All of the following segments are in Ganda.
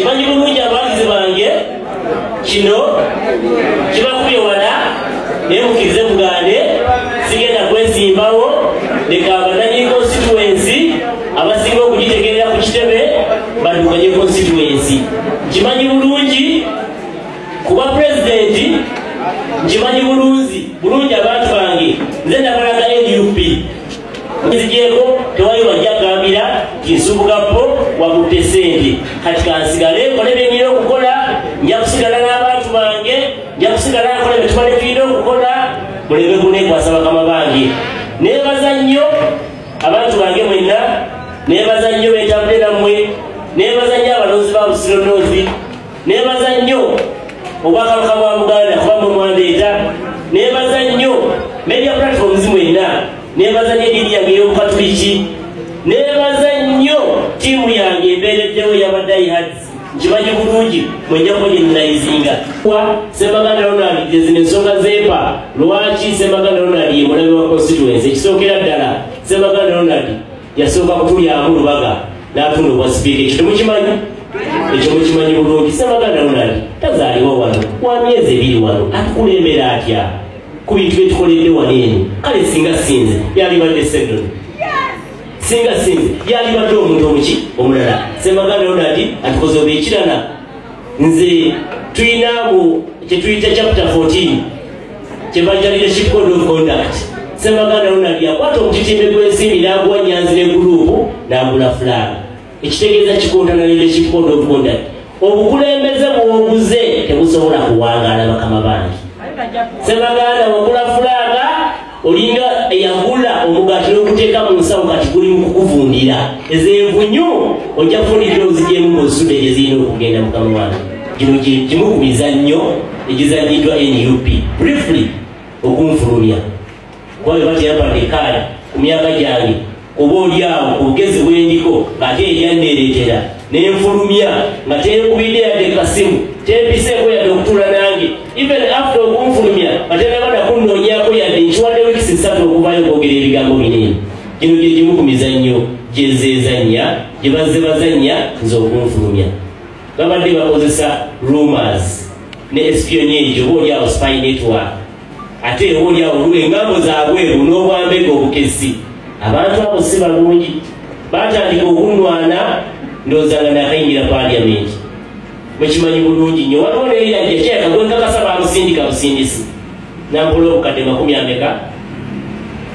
manyi bulungi abawagizi bange kino kibakubye wala naye mukirize mugande sigenda kwesimbawo leka abananyini konsituwensi abasinga okugitegerera ku kitebe badukanye konsituwensi kimanyi bulungi kuba pulezidenti nkimanyi bulungi abantu bange nze nabalaga nup nzigyeko tewali wajja agambira nti nsubuka po wakutte sente kati kansigale nkole byenyina okukola nja kusigala n'abantu bange nja kusigala nkola byetubale tulina okukola muleme kunekwasa bakama bange nebaza nnyo abantu bange mwenna nebaza nnyo betabule nammwe nebaza nnyo abalonzi ba busiro noozi nebaza nnyo obwakabaka bwa buganda kuba mwe mwandeeta nebaza nnyo media platforms mwena nebaza nnyo edini yange ey'obukatuliki nebaza nnyo tiimu yange embeereddewo yabadayihads nkimanyi bulungi mwenjako gyenayizinga wa semaganda ronald gyezino ensonga zeepa lwaki semaganda ronald yemulabe wa constituency ekisookera ddala semaganda ronald yasooka kutulyamu lubaga n'atunda obwa sipiika ekyo temukimanyi ekyo mukimanyi bulungi sebaganda lunani tazaliwa wano wa myezi ebiri wano atukulembera atya ku bintu byetukoledde wano eno kale singa sinze yalibadde sedon singa sinze yalibadde omuntu omuki omulala sebaganda lunani atukoze obekirana nze tulinamu kyetuyita chapter 14 kyebajalire ki code of conduct semaganda lunabya kwata omutitimbe gwensimbi naguwa nyanzi ne guruupu nagula fulaani ekitegeeza kikontana nende ki code of conduct obukulembeze bwoguze tebusobola kuwangaala bakama bangi semaganda wagula fulaana olinga eyagula omugati nokuteeka mu nsawo kati guli mu kukuvundira ezenvunyu ojja kufundikira ozijemu mu nsuda ezirina okugenda mukama wange gino gimu ku mizannyo egizanyiddwa nup briefly okunfulumya kuba beba teyampadde ekaala ku myaka gyange oba olyawo obugezi bwendiko ng'ate eryanneereetera nenfulumya nga tenkubidde yadde kasimu tempiseeko yadde okutuula nange even after okunfulumya nga tenaba nakunnoonyako yadde nkiwadde wikisi ssatu okuvayo okwogera ebigambo binene gino gye gimu ku mizannyo gyezezannya gye bazze bazannya nze okunfulumya babadde bakozesa rumors ne espionage oba olyawo spy network ate oba olyawo olwa engambo zabweru n'obwambega obukesi abantu abo si balungi batandika okunwana ndozanga nakayingira paliamenti mukimanyi bulungi nyo waliwo neyeyajjakyakagwekakasa bamusindika busindisi nampola obukadde makumi ameka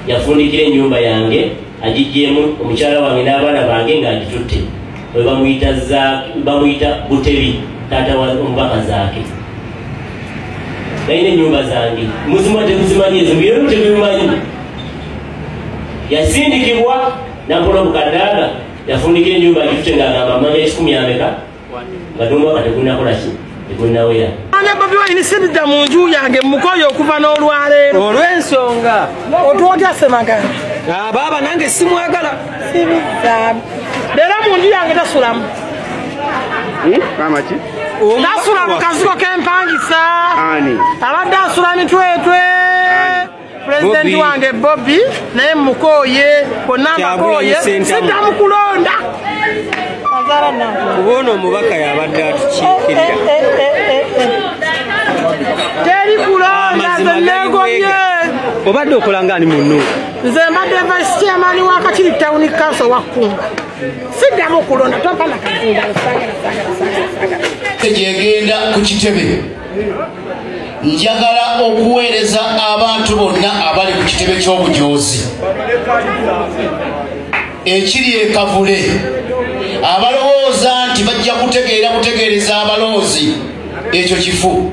yafundikira enyumba yange agijjemu omukyala wange n'abaana bange nga agitutte webamuyita bamuyita butebi taata wa omubaka zaake nalina enyumba zange muzima tekuzimanyi ezo byona tebimanyi yasindikibwa nakola obukadaaga yafundika enyumba gifute ngaagamba manya ekikumi ameka nga tomubaka tekunakolaki Ana Bobi Wine sidda mu nju yange mukoye okuva n'olwaleero olw'ensonga otwogya semagala ah, baaba nange simwagala leero mu nju yange tasulamu hmm? tasula mu kazigo k'empangisa abadde asula mitwetwe pulezidenti wange bobi naye mukooye konna mbakooye siddamu kulonda kuba ono omubaka yabadde atukiikirira eh, eh, eh, teri kulonda zenegomye obadde okola ngaani munnu nze mbadde vice chairman wa kakiri town council wakunga siddamu kulonda tompa nakazindalo gyegenda ku kitebe njagala okuweereza abantu bonna abali ku kitebe ky'obujoozi ekiri ekavule abalowooza nti bajja kutegeera kutegeereza abaloozi ekyo kifu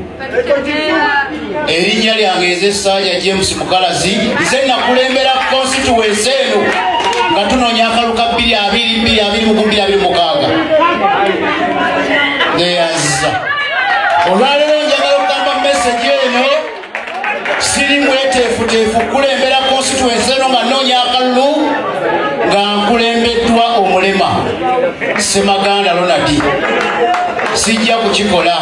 erinnya lyange ez'essaaja james mukalazi nze nakulembera konsituwensi eno nga tunoonya akalu ka bbiri abiri bbiri abiri muku bbiri abiri mukaaga neyaziza olwaleero njagala okugamba mesegi eno siri mweteefuteefu kukulembera konsituensi eno nga noonya akalulu nga nkulembeddwa omulema semaganda lonadi sijja kukikola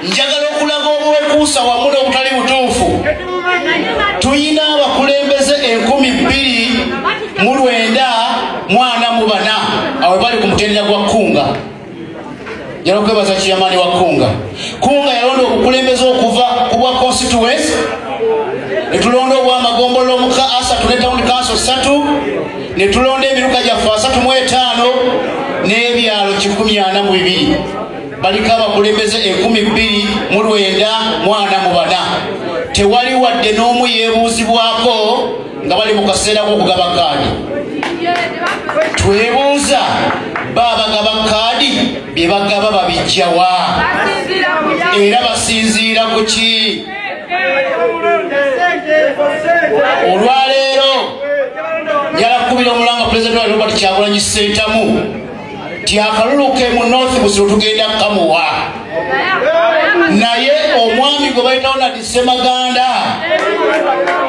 njagala okulaga obwekuusa wamu n'obutali butuufu tulina abakulembeze enkumi bbiri mu lwenda mwana mu bana awe bali ku mutendera gwa kkunga njala okwebaza kiyamani wa kunga kunga yalonda okukulembeza okuva ku bwa constituency netulonda obwamagombolola omuka asatu ne town council satu netulonda emiruka gyaffe asatu mu etaano n'ebyalo kikumi ana mu bibiri baliko abakulembeze ekumi bbiri mu lwenda mwana mu bana tewali wadde n'omu yeebuuzibwako nga bali mu kaseera k'okugaba kaadi twebuuza ba abagaba kaadi bye bagaba babijjawa era basinziira ku ki olwaleero yalakubira omulanga pulezidenti wa robert kyagulanyi sentamu nti akalulu ke mu north busiro tugenda kukamuwa naye omwami gwe bayitawo na disemaganda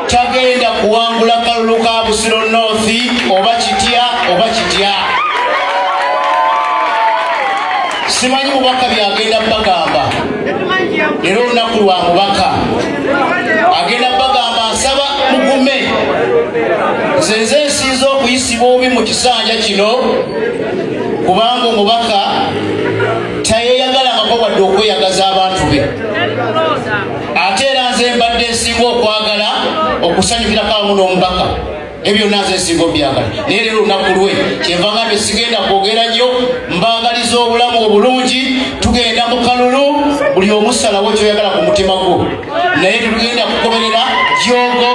tagenda kuwangula kalulu ka busiro north oba kitya oba kitya simanyi mubaka byagenda bagamba era olunaku lwa mubaka agenda bagamba nsaba mugume nze nze nsinza okuyisibwa obi mu kisanja kino kubanga omubaka tayeyagalangako wadde okweyagaza abantu be ate era nze mbadde nsinga okwagala okusanyukirako awamu n'omubaka ebyo naze singa obyagala naye lero olunaku lwe kyenva nga nti sigenda kwogera nnyo mbangaliza obulamu obulungi tugenda mu kalulu buli omusalawo kyoyagala ku mutima gwo naye tetugenda kukomerera jogo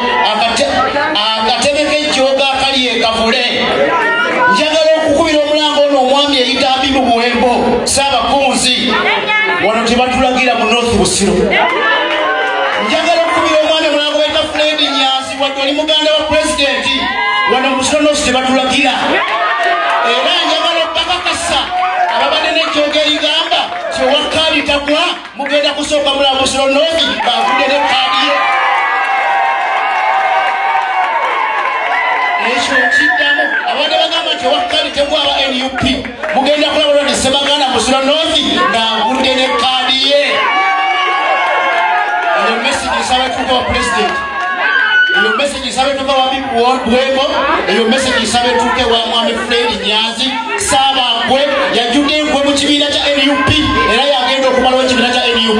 akatebe kejjogo akali ekavule njagala okukubira omulanga ono omwami eyitambi mu buwembo saabakunzi wano tebatulagira mu north busiro wadde oli muganda wa pulezidenti wano musonosi tebatulagira era njagala okubakakasa ababadde nekyoga erigamba kyewakaali tagwa mugenda kusooka mulamusonosi bavude ne kaadiye ekyo kiddamu abadde bagamba nti owakaali tegwa aba nup mugenda kulaba olwa ne sebaganda musula north ng'agudde ne kaadi ye eyo message nsaba etuuka wa pulezidenti eyo message nsaba etuuka wa bwebo eyo message nsaba etuuke wa mwami fred nyanzi saaba nkwe yajjudde enkwe mu kibiina kya nup era yagenda okumalawo ekibiina kya nup